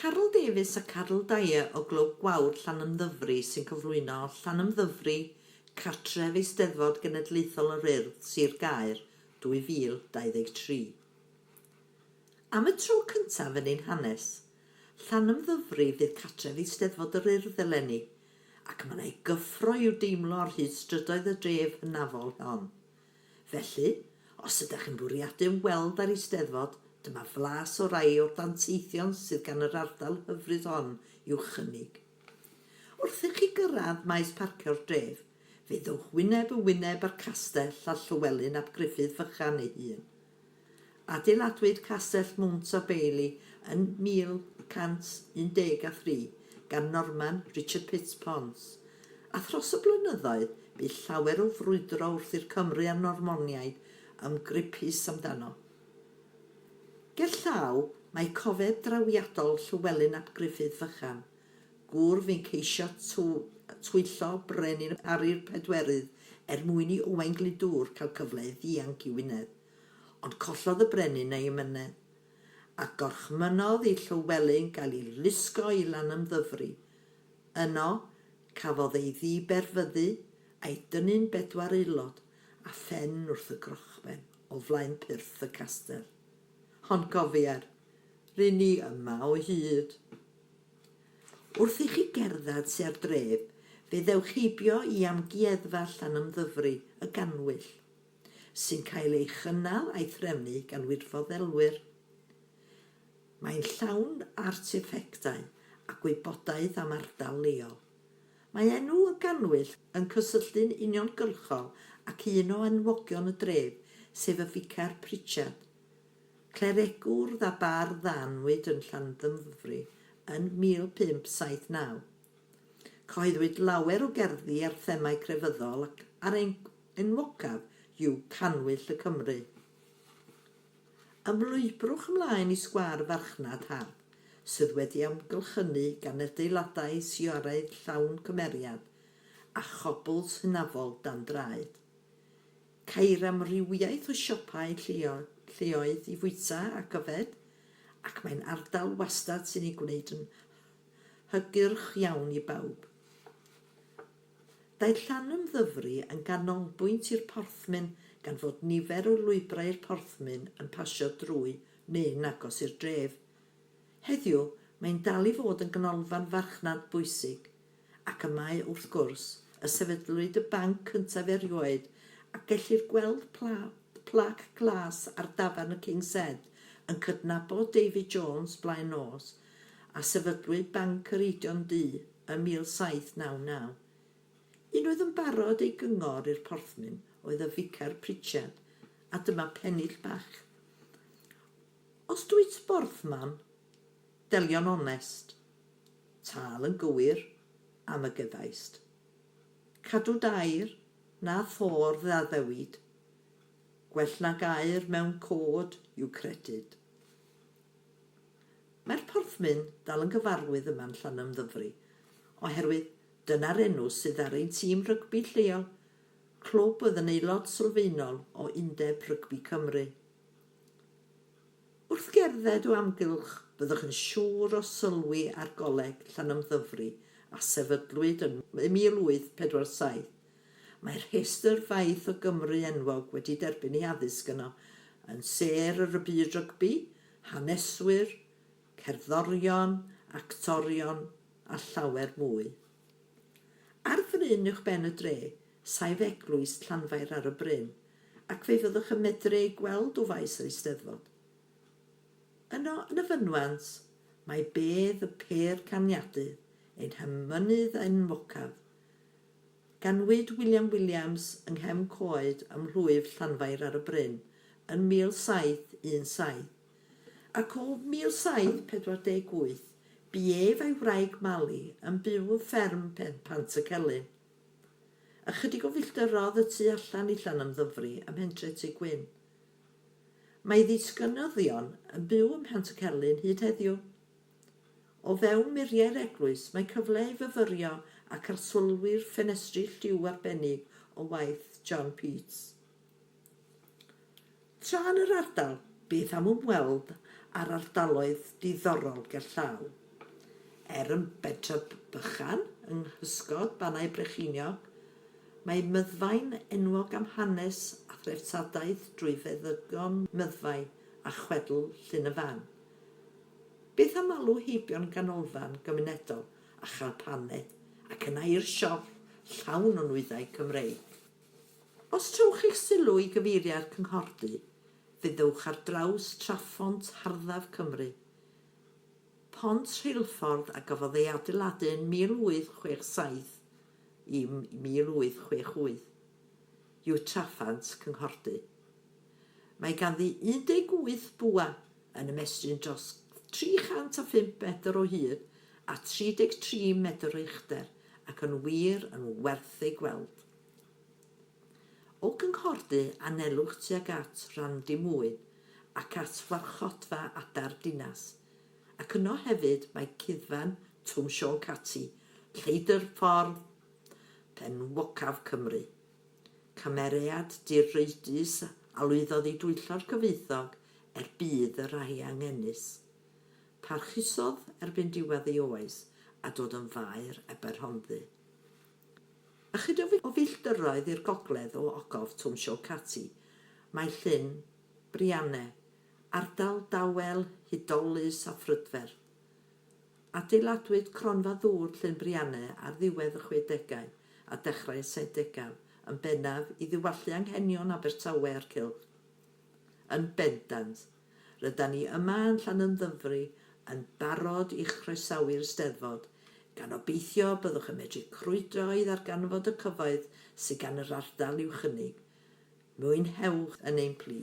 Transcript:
Caryl Davies a Caryl Dyer o Glwb Gwawr Llanymddyfri sy'n cyflwyno Llanymddyfri, Cartref Eisteddfod Genedlaethol yr Urdd, Sir Gaer, 2023. Am y tro cyntaf yn ein hanes, Llanymddyfri fydd cartref Eisteddfod yr Urdd eleni, ac mae'n ei gyffro i'w deimlo ar hyd strydoedd y dref hynafol hon. Felly, os ydych chi'n bwriadu ymweld â'r Eisteddfod, dyma flas o rai o'r danteithion sydd gan yr ardal hyfryd hon i'w chynnig. Wrth i chi gyrraedd maes parcio'r dref, fe ddowch wyneb yn wyneb â'r castell a Llywelyn ap Gruffydd Fychan ei hun. Adeiladwyd Castell Mount a Bailey yn 1113 gan Norman Richard Pitt Pons, a thros y blynyddoedd bu llawer o frwydro wrth i'r Cymry a'r Normoniaid ymgryp pys amdano. Gerllaw, mae cofeb drawiadol Llywelyn ap Gruffydd Fychan, Gŵr fu'n ceisio twyllo brenin Ari'r Pedwerydd er mwyn i Owain Glyndŵr cael cyfle i ddianc i Wynedd, ond collodd y brenin ei amynedd, a gorchmynnodd i Llywelyn gael ei lusgo i Lanymddyfri. Yno, cafodd ei ddiberfyddu, a'i dynnu'n bedwar aelod, a phen wrth y grochben, o flaen pyrth y castell. Ond cofier, ry'n ni yma o hyd! Wrth i chi gerdded tua'r dref, fe ddewch heibio i Amgueddfa Llanymddyfri y Gannwyll, sy'n cael ei chynnal a'i threfnu gan wirfoddolwyr. Mae'n llawn arteffectau a gwybodaeth am ardal leol. Mae enw y Gannwyll yn cysylltu'n uniongyrchol ac un o enwogion y dref, sef y Ficer Pritchard, Clerigwr a bardd a anwyd yn Llandymfri yn 1579. Cyhoeddwyd lawer o gerddi ar themâu crefyddol ac a'r enwocaf yw Cannwyll y Cymry. Ymlwybrwch ymlaen i sgwâr farchnad hardd, sydd wedi amgylchynu gan adeiladau sioeaidd llawn cymeriad a chobls hynafol dan draed. Ceir amrywiaeth o siopau lleoedd i fwyta ac yfed, ac mae'n ardal wastad sy'n ei gwneud yn hygyrch iawn i bawb. Daeth Llanwm Ddyfri yn ganolbwynt i'r porthmyn gan fod nifer o lwybrau i'r porthmyn yn pasio drwy neu'n agos i'r dref. Heddiw, mae'n dal i fod yn ganolfan farchnad bwysig, Ac y mae, wrth gwrs, y sefydlwyd y banc cyntaf erioed, a gellir gweld plac glas ar dafarn y King's Head yn cydnabod David Jones blaen nos, a sefydlwyd Banc yr Eidion Du ym 1799. Un oedd yn barod ei gyngor i'r porthmyn oedd y Ficar Pritchard, a dyma pennill bach. Os dwyt borthman, Delio'n onest. Tâl yn gywir am y gyfaist. Cadw dair na ffordd a ddewid. Gwell nag aur mewn côd yw credyd. Mae'r porthmyn dal yn gyfarwydd yma'n Llanymddyfri oherwydd dyna'r enw sydd ar ein tîm rygbi lleol, clwb oedd yn aelod sylfaenol o Undeb Rygbi Cymru. Wrth gerdded o amgylch byddwch yn siŵr o sylwi ar Goleg Llanymddyfri a sefydlwyd yn 1847. Mae'r rhestr faith o Gymry enwog wedi derbyn eu haddysg yno, yn sêr ar y byd rygbi, haneswyr, cerddorion, actorion a llawer mwy. Ar fryn uwch ben y dre, saif eglwys Llanfair ar y bryn, ac fe fyddwch yn medru ei gweld o faes yr Eisteddfod. Yno, yn y fynwent, mae bedd y pêr caniadu, ein hymynydd enwocaf. Ganwyd William Williams yng nghefn coed ym mhlwyf Llanfair ar y bryn yn 1717. ac o 1748 bu ef a'i wraig Mali yn byw yn fferm Pen Pantycelyn. Ychydig o filltirodd y tu allan i Llanymddyfri ym mhentre Tŷ Gwyn. Mae ddisgynyddion yn byw ym Mhantycelyn hyd heddiw. O fewn muriau'r eglwys mae cyfle i fyfyrio ac arsylwi'r ffenestri lliw arbennig o waith John Peats. Tra yn yr ardal, bydd am ymweld â'r ardaloedd diddorol gerllaw. Er yn bentref bychan yng nghysgod Bannau Brycheiniog, mae Myddfai'n enwog am hanes a threftadaeth drwy feddygon Myddfai a chwedl Llyn y Fan. Byth am alw heibio'n ganolfan gymunedol a chael paned ac yna i'r siop llawn o nwyddau Cymreig. Os trowch eich sylw i gyfeiriau'r cynghordy, fe ddewch ar draws Traphont Harddaf Cymru. Pont rheilffordd a gafodd ei adeiladu yn 1867 i 1868 yw Traphant Cynghordy. Mae ganddi 18 bwa yn ymestyn dros 305 metr o hyd a 33 metr o uchder ac yn wir yn werth ei gweld. O gynghordy anelwch tuag at Randymwyn ac at Farchodfa Adar Dinas, ac yno hefyd mae Cuddfan Twm Siôn Cati, Lleidr Ffordd enwocaf Cymru. Cymeriad direidus a lwyddodd i dwyllo'r cyfoethog er budd y rhai angenus. Parchusodd erbyn diwedd ei oes a dod yn faer Aberhonddu. Ychydig o filltiroedd i'r gogledd o ogof Twm Sioe Cati, mae Llyn Brianne, ardal dawel hudolus a phrydferth. Adeiladwyd Cronfa Ddŵr Llyn Brianne ar ddiwedd y chwedegau a dechrau y saithdegau, yn bennaf i ddiwallu anghenion Abertawe a'r cylch. Yn bendant, Rydan ni yma yn Llanymddyfri yn barod i chroesawu'r Steddfod, gan obeithio byddwch yn medru crwydro i ddarganfod y cyfoeth sydd gan yr ardal i'w chynnig. Mwynhewch yn ein plu!